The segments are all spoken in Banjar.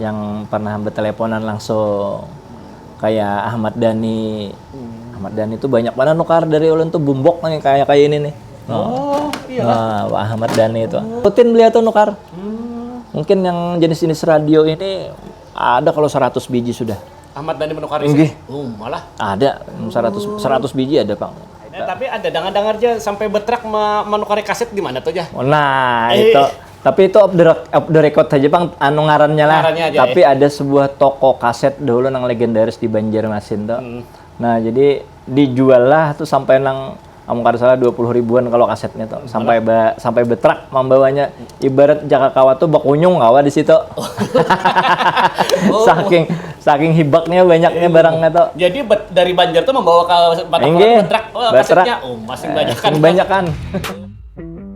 yang pernah berteleponan langsung kayak Ahmad Dhani hmm. Ahmad Dhani itu banyak mana nukar dari ulun tuh bumbok nih kayak kayak ini nih oh, oh iya nah, Pak Ahmad Dhani itu oh. rutin beliau tuh nukar hmm. mungkin yang jenis-jenis radio ini ada kalau 100 biji sudah Ahmad Dhani menukar ini oh, malah ada 100 100 biji ada Pak Ya, tapi ada dengar-dengar aja sampai betrak menukari kaset di mana tuh ya? Nah, eh. itu Tapi itu off the, off the record saja pang anu ngarannya lah. Ngarannya aja, Tapi ada sebuah toko kaset dahulu nang legendaris di Banjarmasin tuh. Hmm. Nah, jadi dijual lah tuh sampai nang amun kada salah dua puluh ribuan kalau kasetnya tuh. Sampai ba, sampai betrak mambawanya. Ibarat jaka kawa tuh bakunyung kawa di situ. Oh. saking saking hibaknya banyaknya barangnya tuh. Jadi bet- dari Banjar tuh membawa ke Batang Inggih, Toraja, betrak, oh, betrak. kasetnya. Oh, masih banyak kan. Sing banyakan.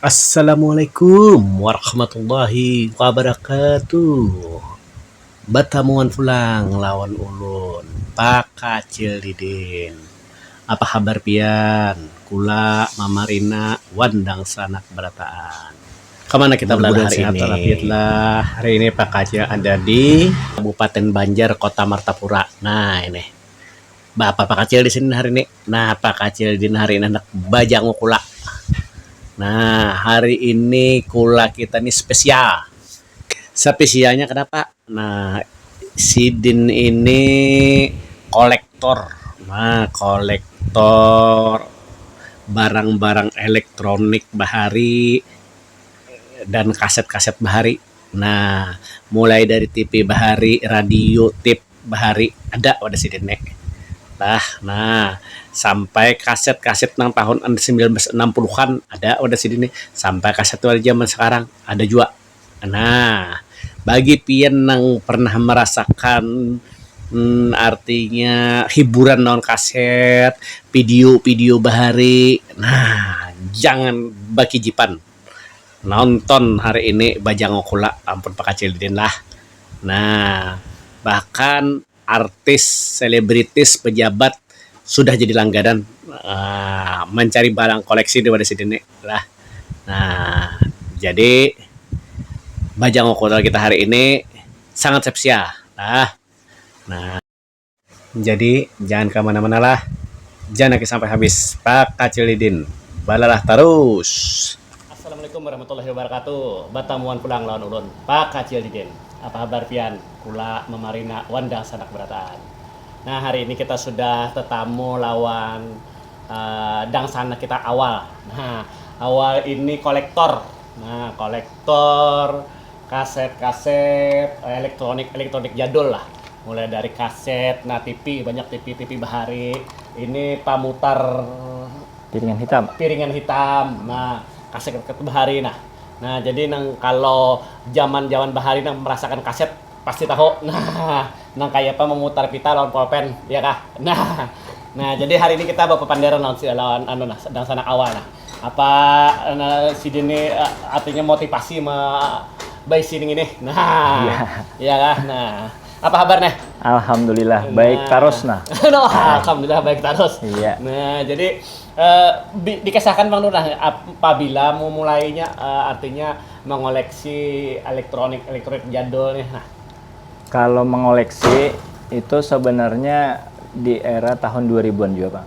Assalamualaikum warahmatullahi wabarakatuh batamuan pulang lawan ulun pakacil didin apa habar pian kula mamarina wan dangsanak barataan kamana kita balala hari ini sehat walafiat lah hari ini pakacil ada di kabupaten banjar kota martapura nah ini. Baapa pakacil di sini hari ni. Nah, pakacil di hari ini handak bajangu kula. Nah, hari ini kula kita ni spesial. Sapisialnya kanapa? Nah, sidin ini kolektor. Nah, kolektor barang-barang elektronik bahari dan kaset-kaset bahari. Nah, mulai dari tipi bahari, radio, tip. bahari ada wadah sidin ne bah nah sampai kaset kaset nang tahun samilan ratus anam puluh an ada wadah sidin ne sampai kaset nang wadah jaman sekarang ada jua nah bagi pian nang pernah merasakan artinya hiburan lawan kaset pidio pidio bahari nah jangan bakijipan. nonton hari ini bajanguk kula ampun pakacil didin lah nah bahkan artis selebritis pejabat sudah jadi langganan um mancari barang koleksi di wadah sidin ni lah um jadi bajanguk kula kita hari ini sangat spesial lah nah. Jadi jangan ka mana mana lah ja naki sampai habis pak kacil didin balalah tarus. Assalamualaikum warahmatullahi wabarakatuh batamuan pulang lawan ulun pak kacil didin apa habar pian kula mamarina wan dangsanak barataan nah hari ini kita sudah tetamu lawan dangsanak kita awal nah awal ini kolektor nah kolektor Kaset-kaset elektronik-elektronik jadul lah. Mulai dari kaset, nah TV, banyak TV, TV bahari. Ini pamutar piringan hitam. Piringan hitam. Nah, kaset-kaset bahari nah. Nah, jadi nang kalo jaman-jaman bahari nang merasakan kaset pasti tahu. Nah, nang kayapa memutar pita lawan polpen, iya kah? Nah. Nah, jadi hari ini kita bapapanderan lawan si lawan anu nah dangsanak awal nah. Apa sidin ni artinya motivasi ma baisi ning ini nah iya kah nah apa habar nah alhamdulillah baik tarus nah alhamdulillah baik tarus nah jadi dikisahkan pang nah pabila memulai nya artinya mengoleksi elektronik elektronik jadul nih nah kalo mengoleksi itu sebenarnya di era tahun dua ribuan jua pang.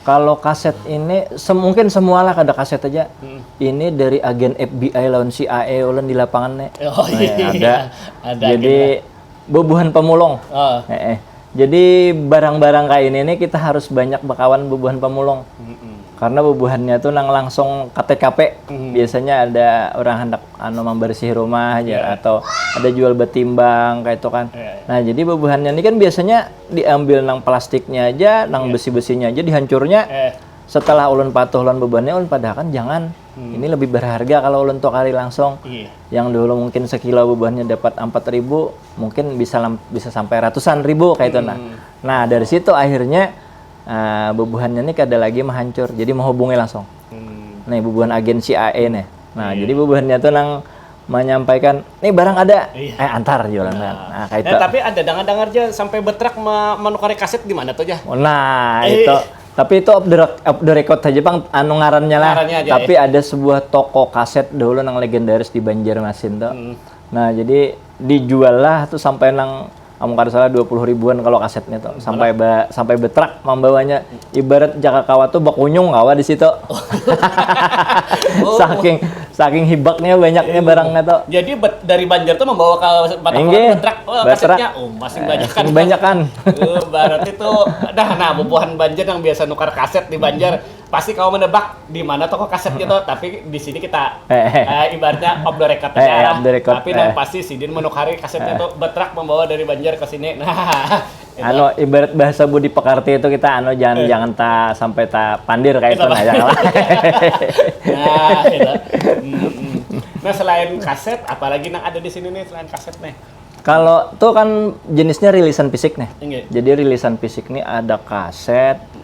Kalo kaset ini, se mungkin semua lah kada kaset haja. Ini dari agen FBI lawan CIA ulun di lapangan ni. Oh iya, Nah, ada. ada Jadi akhirnya. bubuhan pamulung. Oh. Heeh. Jadi barang-barang kaya ini ni kita harus banyak bakawan bubuhan pamulung. Karena bubuhannya tu nang langsung ka TKP. Biasanya ada urang handak anu mambarisihi rumah haja atau ada jual batimbang kaya itu kan. Nah, jadi bubuhannya ni kan biasanya. diambil nang plastiknya aja nang yeah. besi besinya aja dihancurnya eh. setelah ulun patuh ulun bebannya ulun padahkan jangan hmm. ini lebih berharga kalau ulun tuh kali langsung yeah. yang dulu mungkin sekilo bebannya dapat empat ribu mungkin bisa bisa sampai ratusan ribu kayak itu nah hmm. nah dari situ akhirnya uh, eh, bebuhannya ini kada lagi menghancur jadi menghubungi langsung hmm. nih bebuhan agensi AE nih nah yeah. jadi bebuhannya tuh nang menyampaikan nih barang ada iya. eh antar jualan nah, nah kayak eh, tapi ada dengar dengar aja sampai betrak menukari kaset di mana tuh ya nah eh. itu tapi itu off the, off the record aja bang anu ngarannya lah ngarannya aja, tapi eh. ada sebuah toko kaset dulu yang legendaris di Banjarmasin tuh hmm. nah jadi dijual lah tuh sampai nang amun kada salah dua puluh ribuan kalo kasetnya tu sampai ba sampai betrak mambawanya ibarat jaka kawa tu bakunyung kawa di situ saking saking hibaknya banyaknya barangnya tu jadi bet dari banjar tu mambawa ka mata inggih betrak kasetnya um masing banyakan banyakan berarti tu dah nah bubuhan banjar nang biasa nukar kaset di banjar. pasti kamu menebak di mana toko kaset gitu tapi di sini kita uh, ibaratnya off the record eh, ya, the record, tapi eh. yang pasti sidin menukari kasetnya eh. itu betrak membawa dari Banjar ke sini nah anu ibarat bahasa Budi Pekarti itu kita anu jangan eh. jangan ta sampai ta pandir kayak itu nah ya nah, itu. Hmm, hmm. nah selain kaset apalagi yang ada di sini nih selain kaset nih kalau tuh kan jenisnya rilisan fisik nih. Iya. Jadi rilisan fisik nih ada kaset,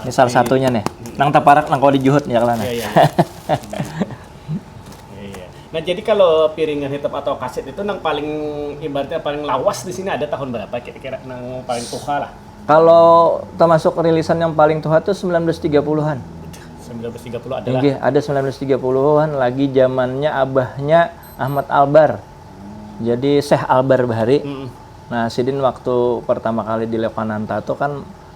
Ini salah satunya nih. Nang taparak nang kawa dijuhut ya kala nah. Iya, iya. Iya, iya. Nah, jadi kalau piringan hitam atau kaset itu nang paling ibaratnya paling lawas di sini ada tahun berapa kira-kira nang paling tuha lah. Kalau termasuk rilisan yang paling tuha tuh 1930-an. 1930 adalah Nggih, ada 1930-an lagi zamannya abahnya Ahmad Albar. Jadi Syekh Albar bahari. Mm-mm. Nah, sidin waktu pertama kali di Levananta tuh kan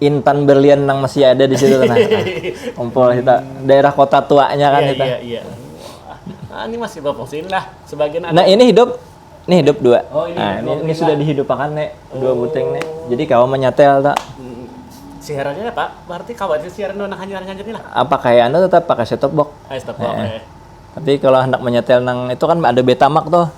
intan berlian nang masih ada di situ nah. Kumpul kita daerah kota tuanya kan iya, kita. Iya, iya. Ah, ini masih berfungsi lah sebagian ada. Nah, ini hidup ini hidup dua. Oh, ini, nah, ini, ini sudah dihidupakan nek dua oh. buting nek. Jadi kau menyetel tak? Hmm. Siarannya ya, Pak. Berarti kau aja siaran nang hanya hanya lah. Apa kayak anda tetap pakai set top box? Ah, set top box. Eh. eh. Tapi kalau hendak menyetel nang itu kan ada Betamax tuh.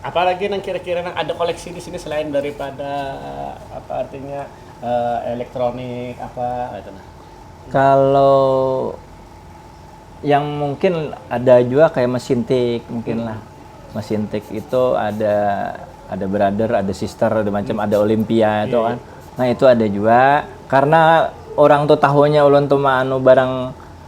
apa lagi nang kira-kira nang ada koleksi di sini selain daripada apa artinya uh, elektronik apa itu nah. Kalau yang mungkin ada juga kayak mesin tik mungkin hmm. lah. Mesin tik itu ada ada brother, ada sister, ada macam hmm. ada Olimpia itu iya, kan. Iya. Nah, itu ada juga karena orang tuh tahunya ulun tuh anu barang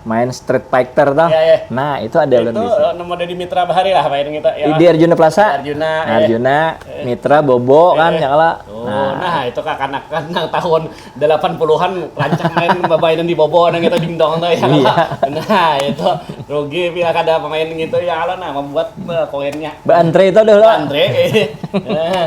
main Street Fighter toh. Iya, iya. Nah, itu ada ulun Itu di sini. nomor dari Mitra Bahari lah main kita. Ya. Di Arjuna Plaza. Arjuna, eh. Arjuna, Mitra, Bobo kan ya kala. Oh, Nah, nah, itu kakanakan nang tahun 80-an rancak main babainan di bobo nang itu dingdong tuh ya. Iya. Nah, itu rugi bila kada pemain gitu ya kalau nah membuat eh, koinnya. Ba Andre itu dulu. Andre. eh.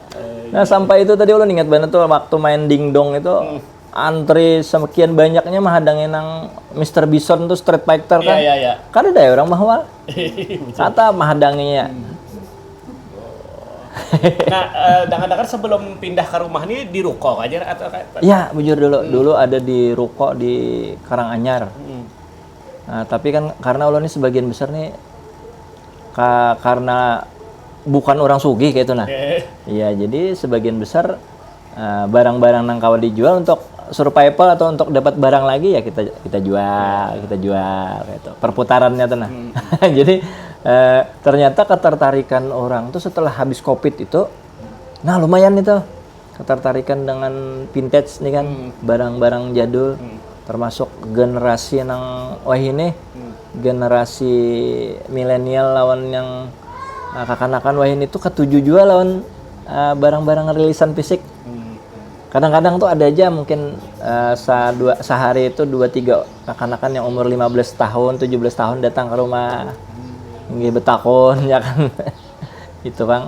Nah sampai itu tadi ulun ingat banget tuh waktu main dingdong itu hmm. antri sekian banyaknya menghadangin nang Mr. Bison tuh Street Fighter iya, kan. Iya, iya, Kan ada ya orang bahwa kata menghadanginya. Hmm. nah, eh, dengar-dengar sebelum pindah ke rumah ini di ruko aja atau kayak Iya, bujur dulu. Hmm. Dulu ada di ruko di Karanganyar. Hmm. Nah, tapi kan karena ulun ni sebagian besar nih ka, karena bukan orang sugih kayak itu nah. Iya, jadi sebagian besar eh, barang-barang nang kawa dijual untuk survival atau untuk dapat barang lagi ya kita kita jual, kita jual kayak itu. Perputarannya tuh nah. jadi eh, ternyata ketertarikan orang tuh setelah habis Covid itu nah lumayan itu. Ketertarikan dengan vintage nih kan, hmm. barang-barang hmm. jadul, hmm. termasuk generasi nang wahini, hmm. generasi milenial lawan yang uh, kakanakan wahini itu ketujuh juga lawan uh, barang-barang rilisan fisik. Hmm. Kadang-kadang tuh ada aja mungkin uh, sa dua, sehari itu dua tiga kakanakan yang umur 15 tahun, 17 tahun datang ke rumah. Hmm. Nggih betakon ya kan. itu Bang.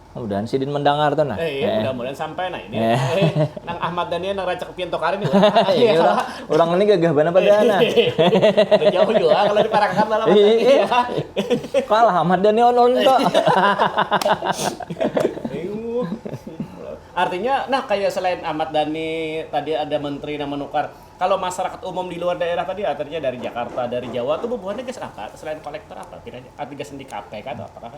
Mudahan sidin mendangar tuh nah. Eh, iya, mudah-mudahan sampai nah ini. Eh. nang Ahmad Daniel nang racak pian tokar ini. ini orang, orang ini gagah banget pada nah. Jauh juga kalau diparakan dalam iya. Kalah Ahmad Daniel on tuh. Artinya, nah kayak selain Ahmad Dhani, tadi ada menteri yang menukar. Kalau masyarakat umum di luar daerah tadi, artinya dari Jakarta, dari Jawa, tuh bubuhannya guys apa? Selain kolektor apa? Tidak, artinya sendi kafe kan? Apakah?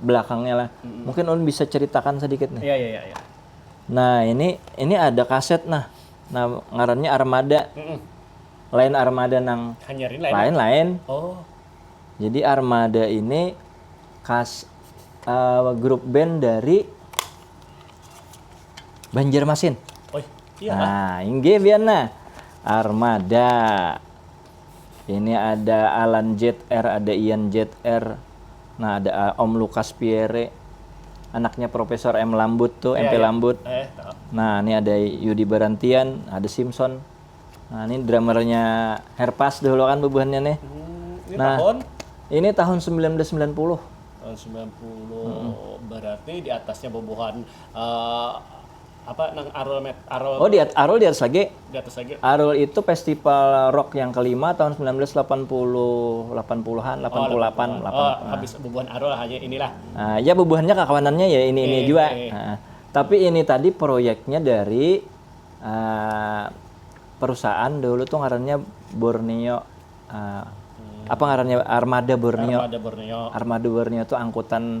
belakangnya lah. Hmm. Mungkin Ulun bisa ceritakan sedikit nih. Iya, iya, iya. iya. Nah, ini ini ada kaset nah. Nah, ngarannya Armada. Hmm. Lain Armada nang Hanyarin lain. Lain, lain. Oh. Jadi Armada ini kas uh, grup band dari Banjarmasin. Oh, iya. Nah, inggih biar nah. Armada. Ini ada Alan Jtr, ada Ian Jtr, nah ada a- Om Lukas Piere, anaknya Profesor M Lambut tuh, MP Lambut. Eh, tahu. Nah, ini ada Yudi Barantian, ada Simpson. Nah, ini drummernya Herpas dahulu kan bubuhannya nih. Hmm, ini Nah. tahun Ini tahun 1990. tahun 90 berarti di atasnya bubuhan eh, apa nang Arul Met Arul Oh di Arul di atas lagi. Di atas lagi. Arul itu festival rock yang kelima tahun 1980 80-an 88 oh, 88. Oh, habis bubuhan Arul hanya inilah. Uh, ya bubuhannya kakawanannya ya ini ini eh, juga. Eh. Uh, tapi ini tadi proyeknya dari uh, perusahaan dulu tuh ngarannya Borneo uh, hmm. apa ngarannya Armada Borneo. Armada Borneo. Armada Borneo tuh angkutan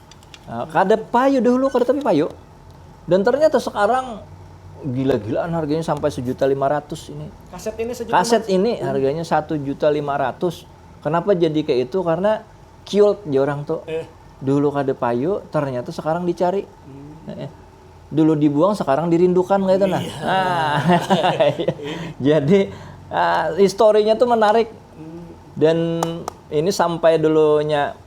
Kada payu dahulu kada tapi payu dan ternyata sekarang gila-gilaan harganya sampai sejuta lima ratus ini. Kaset ini sejuta Kaset ini harganya satu juta lima ratus. Kenapa jadi kayak itu? Karena cute ya orang tuh. Eh. Dulu kada payu, ternyata sekarang dicari. Hmm. Eh. Dulu dibuang, sekarang dirindukan kayak itu nah. Iya. Ah. jadi uh, historinya tuh menarik. Hmm. Dan ini sampai dulunya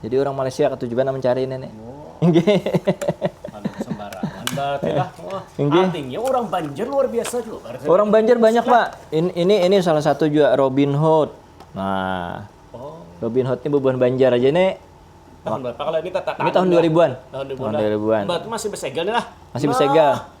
Jadi urang Malaysia katuju banar mancari ini nih. Artinya orang Banjar luar biasa juga. Orang Banjar banyak pak. Ini ini, ini salah satu juga Robin Hood. Nah, oh. Robin Hood ini bubuhan Banjar aja nih. Tahun berapa kalau ini tata Ini tahun 2000-an. Tahun 2000-an. Tahun 2000-an. Berarti masih bersegel nih lah. Masih bersegel. Nah.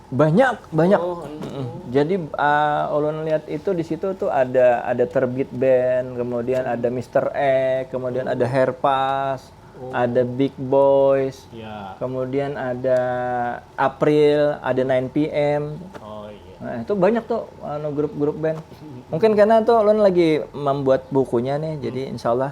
Banyak, banyak. Oh, mm. Jadi uh, ulun lihat itu di situ tuh ada ada terbit band, kemudian hmm. ada Mr. E, kemudian oh. ada Herpas, oh. ada Big Boys, yeah. kemudian ada April, ada 9 PM. Oh, yeah. Nah, itu banyak tuh anu grup-grup band. Mungkin karena tuh ulun lagi membuat bukunya nih, hmm. jadi insyaallah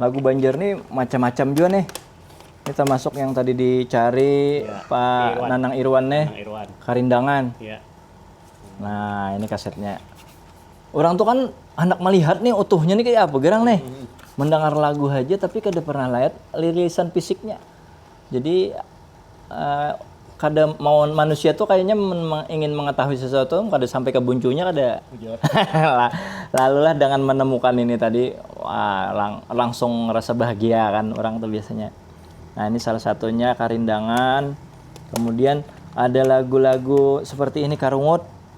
lagu banjar nih macam macam jua nih ini termasuk yang tadi dicari ya. Pak Irwan. Nanang Irwan nih Nanang Irwan. karindangan ya. nah ini kasetnya orang tuh kan anak melihat nih utuhnya nih kayak apa gerang nih hmm. mendengar lagu aja tapi kada pernah lihat lirisan fisiknya Jadi kada mau manusia tu kayanya ingin mengetahui sesuatu kada sampai ke buncunya kada lalulah dengan menemukan ini tadi langsung rasa bahagia kan orang tu biasanya nah ini salah satunya karindangan kemudian ada lagu-lagu seperti ini karungut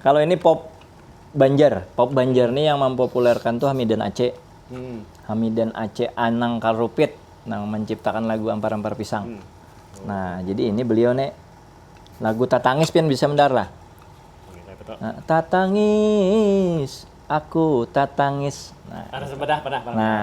Kalau ini pop Banjar, pop Banjar nih yang mampopulerkan tuh Hamidan Aceh. Hmm. Hamidan Aceh Anang Karupit nang menciptakan lagu Ampar-ampar Pisang. Hmm. Oh. Nah, jadi ini beliau nih lagu Tatangis pian bisa mendar lah. Nah, tatangis, aku tatangis. Nah, Harus bedah, bedah, bedah. Nah,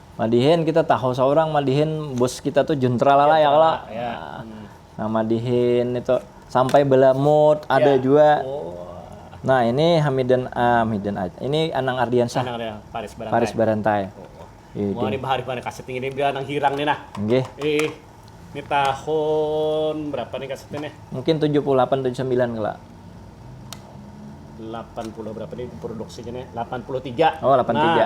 Madihin kita tahu saurang madihin bus kita tu juntra lala ya kalo. Nah madihin itu sampai balamut ada jua. Nah ini hamidan hamidan aja ini anang ardiansyah paris barantai. Mungkin tujuh puluh lapan tujuh sambilan kalo. Oh lapan tiga.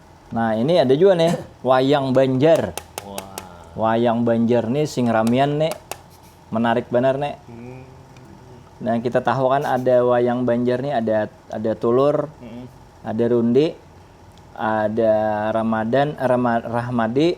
Nah ini ada juga nih wayang Banjar. Wayang Banjar nih sing ramian nih menarik benar nih. Hmm. Nah kita tahu kan ada wayang Banjar nih ada ada tulur, hmm. ada rundi, ada Ramadan, Rama, Rahmadi,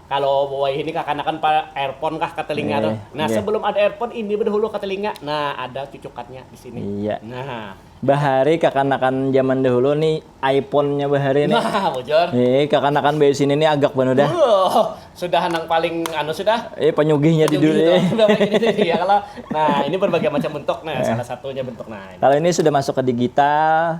Kalo wayah ini kakanakan pa earphone kah ka telinga tuh. Iya, Nah, iya. sebelum ada earphone ini bedahulu ka telinga. Nah, ada cucukatnya di sini. Iya. Nah. Bahari kakanakan zaman dahulu ni iPhone-nya bahari ni. Nah, bujur. Eh, kakanakan baisi ini ni agak banar dah. Wuh, sudah nang paling anu sudah. Eh, panyugihnya di Penyugih dunia. itu. Udah paling ini tuh, iya kalau. Nah, ini berbagai macam bentuk nah, salah satunya bentuk nah. Kalau ini sudah masuk ke digital,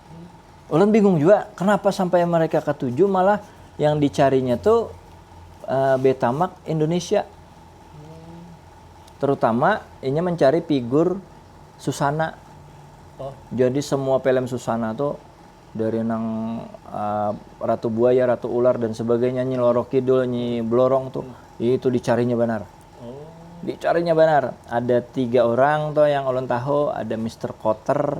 Ulun bingung jua kenapa sampai mereka katuju malah yang dicarinya tu Betamax Indonesia. Terutama inya mencari figur Susana. Jadi semua film Susana tu dari nang Ratu Buaya, Ratu Ular dan sebagainya, Nyi Loro Kidul, Nyi Blorong tu itu dicarinya banar. Dicarinya banar. Ada tiga orang tu yang ulun tahu, ada Mister Kotter,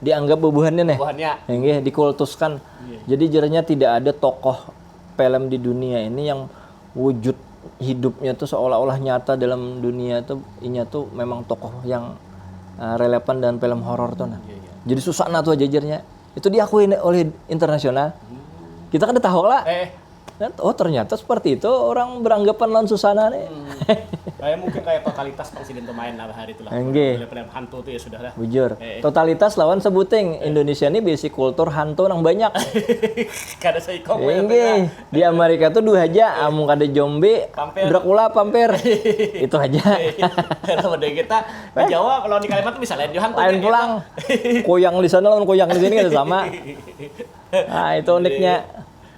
dianggap bubuhannya nih bubuhannya Enggih, dikultuskan iya. jadi jeranya tidak ada tokoh film di dunia ini yang wujud hidupnya tuh seolah-olah nyata dalam dunia tuh inya tuh memang tokoh yang uh, relevan dengan film horor tuh nah iya, iya. jadi susah nah tuh jajarnya itu diakui oleh internasional hmm. kita kan udah tahu lah eh. Oh ternyata seperti itu orang beranggapan lawan susana nih. Kayak mungkin kayak totalitas presiden tuh main lah hari itulah. Enggih. Film-film hantu tuh ya sudah lah. Bujur. Eh. Totalitas lawan sebuting. Eh. Indonesia nih bisi kultur hantu nang banyak. kada seikong. Enggih. Di Amerika tuh dua haja. Eh. Amun kada jombi, pampir. Dracula, pampir. itu haja. Kalau udah kita di eh. Jawa kalau di Kalimantan bisa lain hantu. Lain pulang. Koyang di sana lawan koyang di sini kan sama. Nah, itu uniknya.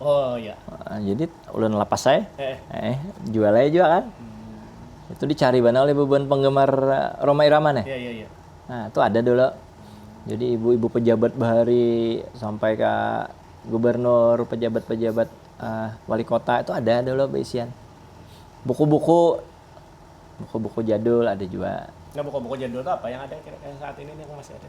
Oh iya. Nah, jadi ulun lapas saya, eh. eh jual aja juga kan. Hmm. Itu dicari banget oleh beban penggemar eh, Roma Irama nih. Iya iya iya. Nah, itu ada dulu. Jadi ibu-ibu pejabat bahari sampai ke gubernur, pejabat-pejabat uh, wali kota itu ada dulu beisian. Buku-buku buku-buku jadul ada juga. Nah, buku-buku jadul itu apa yang ada kira-kira saat ini nih yang masih ada?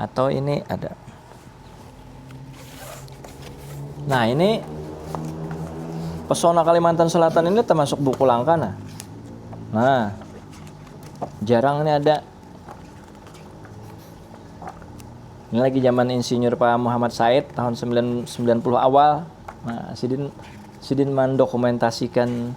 atau ini ada nah ini pesona Kalimantan Selatan ini termasuk buku langka nah nah jarang ini ada ini lagi zaman insinyur Pak Muhammad Said tahun 90 awal nah sidin sidin mendokumentasikan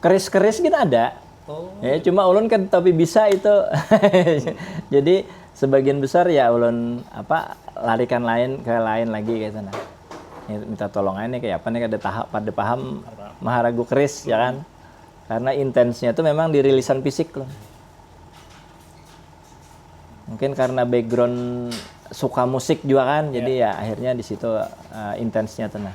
Keris-keris gin ada. Ya, cuma ulun kada tapi bisa itu. Jadi sebagian besar ya ulun apa larikan lain ke lain lagi kaytu nah. Ya, minta tolong aja nih kayak apa nih kada taha, kada paham maharagu keris ya kan. Karena intensnya tu memang di rilisan fisik loh. Mungkin karena background suka musik jua kan, jadi ya akhirnya di situ intensnya tu nah.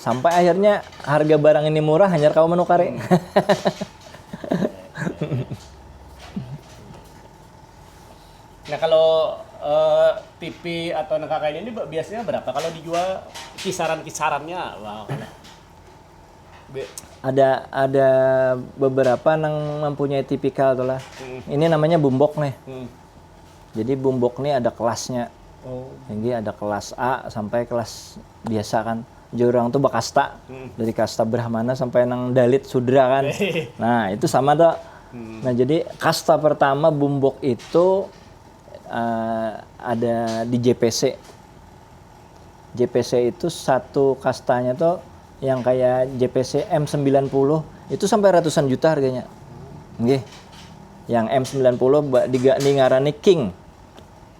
Sampai akhirnya harga barang ini murah hanyar kawa manukari. Nah kalo TV atau nang kaya ini biasanya berapa kalo dijual kisaran kisarannya ada ada beberapa nang mempunyai tipikal tu lah ini namanya bumbok nih jadi bumbok nih ada kelasnya jadi ada kelas A sampai kelas biasa kan jadi orang tuh bakasta hmm. dari kasta Brahmana sampai nang Dalit Sudra kan nah itu sama tuh hmm. nah jadi kasta pertama Bumbok itu uh, ada di JPC JPC itu satu kastanya tuh yang kayak JPC M90 itu sampai ratusan juta harganya Nggih. Yang M90 di, di ngarani King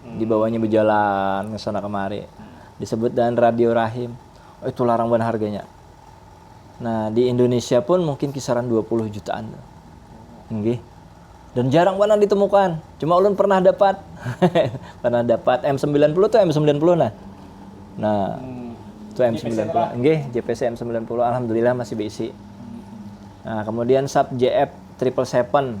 Dibawanya bajalan ke sana kemari. Disebut dan radio rahim. Itu larang banar harganya. Nah, di Indonesia pun mungkin kisaran dua puluh jutaan tuh. Nggih. Dan jarang banar ditemukan. Cuma ulun pernah dapat. pernah dapat M90 tuh M90 nah. Nah, itu M90. Nggih, JPC M90 alhamdulillah masih beisi. Nah, kemudian Sub JF triple seven.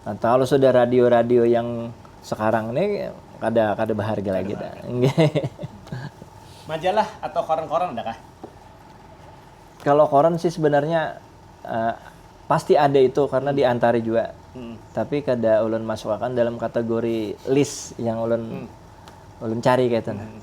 Nah, kalau sudah radio-radio yang sekarang nih kada kada berharga lagi dah. Majalah atau koran-koran ada kah? Kalau koran sih sebenarnya uh, pasti ada itu karena hmm. diantari juga. Hmm. Tapi kada ulun masukkan dalam kategori list yang ulun hmm. ulun cari kaitu. Hmm.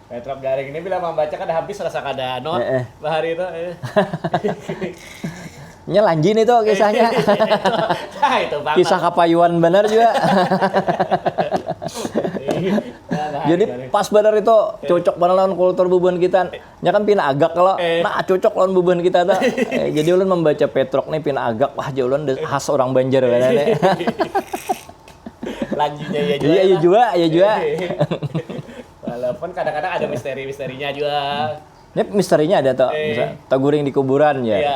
Petrop garing ini bila mambaca kada habis rasa kada not eh, eh. bahari itu. Eh. Nya lanjin itu kisahnya. nah, itu banget. Kisah kapayuan benar juga. Jadi pas benar itu cocok banget lawan kultur bubuhan kita. Nya kan pina agak kalau eh. nah cocok lawan bubuhan kita tuh. Eh, jadi ulun membaca Petrok nih pina agak wah jauh ulun khas orang Banjar benar nih. Lanjutnya ya juga. Iya, iya juga, iya juga. Walaupun kadang-kadang ada misteri-misterinya juga. Ini misterinya ada toh, Eh. bisa teguring di kuburan ya. Iya.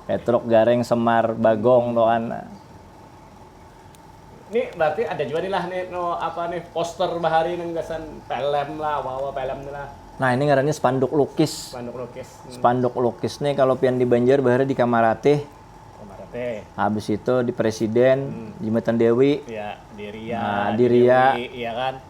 Petruk, Gareng, Semar, Bagong toh kan. Ini berarti ada juga nih lah nih no apa nih poster bahari nang gasan film lah, wawa film nih lah, Nah, ini ngarannya spanduk lukis. manduk lukis. Hmm. Spanduk lukis nih kalau pian di Banjar bahari di Kamaratih, Kemarin teh. habis itu di Presiden, Jembatan Dewi. Ya, di Ria, Nah, di Ria. Dewi, iya kan.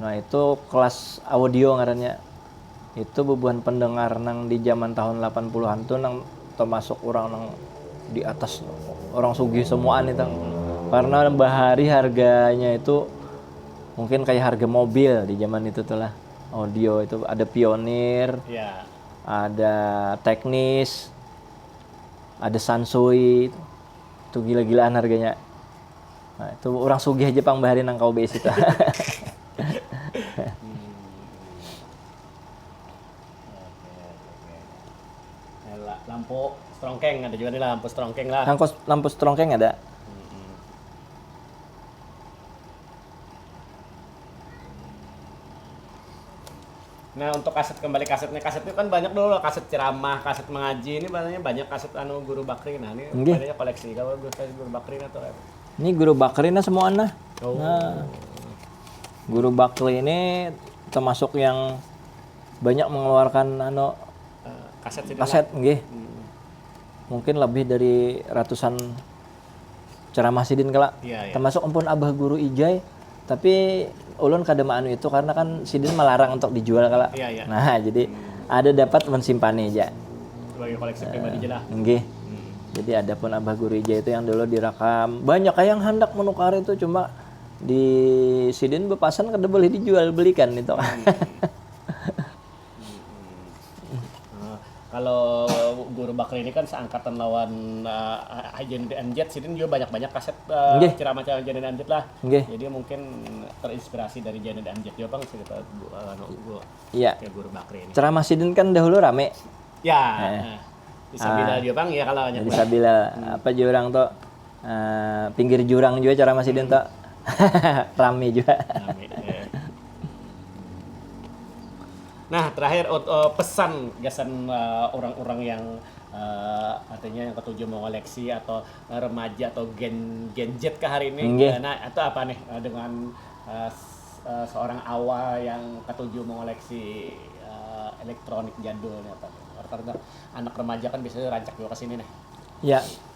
Nah itu kelas audio ngarannya. Itu bubuhan pendengar nang di jaman tahun lapan puluh an tu nang tamasuk urang nang di atas urang sugih semuaan itu. Karena bahari harganya itu mungkin kaya harga mobil di jaman itu tu lah. Audio itu ada pionir, ada teknis, ada sansoi, itu gila-gilaan harganya. Nah, itu orang sugih aja pang bahari nang kawa baisi tuh. lampu strongkeng ada juga nih lampu strongkeng lah. Lampu, lampu strongkeng ada. Nah untuk kaset kembali kasetnya kaset itu kan banyak dulu kaset ceramah kaset mengaji ini banyak banyak kaset anu guru bakri nah ini okay. banyak koleksi kalau guru kaset guru bakri nah tuh ini guru bakri nah semua nah oh. nah guru bakri ini termasuk yang banyak mengeluarkan anu eh, kaset kaset nggih hmm. mungkin lebih dari ratusan ceramah sidin kala, yeah, yeah. termasuk ampun abah guru ijai, tapi ulun kada maanu itu karena kan sidin melarang untuk dijual kala, yeah, yeah. nah jadi hmm. ada dapat mensimpani aja sebagai koleksi uh, pribadi jelas. Enggih. Hmm. Jadi ada pun abah guru ijai itu yang dulu direkam banyak yang hendak menukar itu cuma di sidin bepasan kada boleh dijual belikan itu. Hmm. Kalau Guru Bakri ini kan seangkatan lawan Haji Nadim Amjad, sidin jua banyak-banyak kaset ceramah-ceramah Haji Nadim Amjad lah. Jadi mungkin terinspirasi dari Haji Nadim Amjad jua pang cerita Guru Bakri ini. Ceramah sidin kan dahulu rame. Di Sabilal jua pang ya kalau banyak. Di Sabilal, apa jua urang tu. pinggir jurang jua ceramah sidin to rame jua nah terakhir pesan gasan urang-urang yang artinya yang ketujuh mengoleksi atau remaja atau gen gen Z ke hari ini Nggih. nah itu apa nih dengan uh, seorang awal yang ketujuh mengoleksi uh, elektronik jadul nih apa nih anak remaja kan biasanya rancak juga ke sini nih ya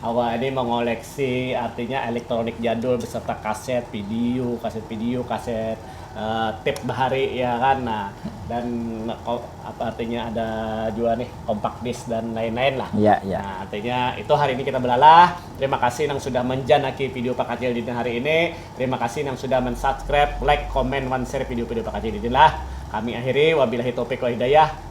Awak ini mengoleksi artinya elektronik jadul beserta kaset, video, kaset video, kaset tape bahari ya kan nah dan apa artinya ada jua nih compact disc dan lain-lain lah. Ya, ya. Nah, artinya itu hari ini kita belalah. Terima kasih nang sudah menjanaki video Pakacil Didin hari ini. Terima kasih nang sudah mensubscribe, like, comment, wan share video-video Pakacil Didin lah. Kami akhiri, wabillahi taufiq wal hidayah.